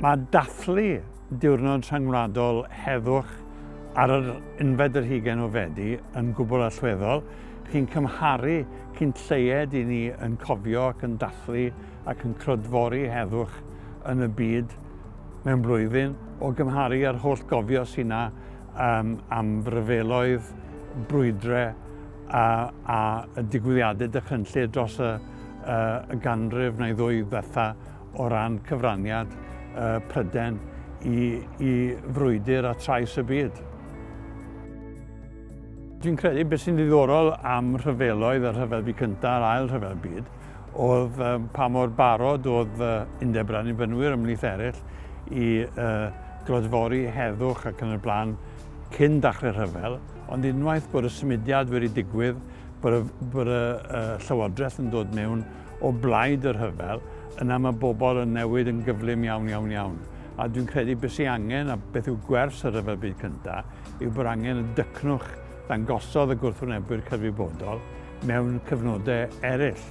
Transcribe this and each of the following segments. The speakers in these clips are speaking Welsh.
Mae dathlu Diwrnod Rhyngwladol Heddwch ar yr unfed yr hugain o Fedi yn gwbl allweddol. Chi'n cymharu cyn lleied i ni yn cofio ac yn dathlu ac yn clodfori heddwch yn y byd mewn blwyddyn o gymharu â'r holl gofio sy'n na um, am ryfeloedd, brwydrau a, a y digwyddiadau dychrynllyd dros y, y ganrif neu ddwy ddiwetha o ran cyfraniad uh, Pryden i, i frwydr a trais y byd. Dwi'n credu beth sy'n ddiddorol am rhyfeloedd, y rhyfel byd cyntaf a'r ail rhyfel byd, oedd um, pa mor barod oedd uh, undeb rhan i fynwyr ymlith eraill i uh, glodfori heddwch ac yn y blaen cyn dachrau rhyfel, Ond unwaith bod y symudiad wedi digwydd, bod y, bod y uh, llywodraeth yn dod mewn o blaid y rhyfel, yna mae bobl yn newid yn gyflym iawn, iawn, iawn. A dwi'n credu beth sy'n angen, a beth yw gwers y rhyfel byd cyntaf, yw bod angen y dycnwch ddangosodd y gwrthwynebwyr cyfrifodol mewn cyfnodau eraill,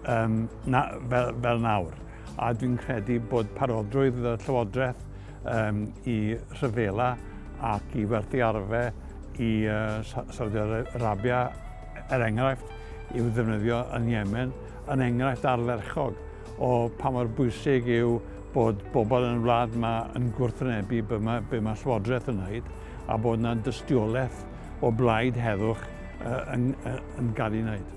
um, na, fel, fel nawr. a dwi'n credu bod parodrwydd y Llywodraeth um, i rhyfela ac i werthu arfe i uh, Saudi Arabia, er enghraifft, i'w ddefnyddio yn Yemen, yn enghraifft arferchog o pa mor bwysig yw bod bobl yn y wlad yma yn gwrthwynebu be mae, be mae Llywodraeth yn wneud a bod yna dystiolaeth o blaid heddwch uh, yn, uh, yn gael ei wneud.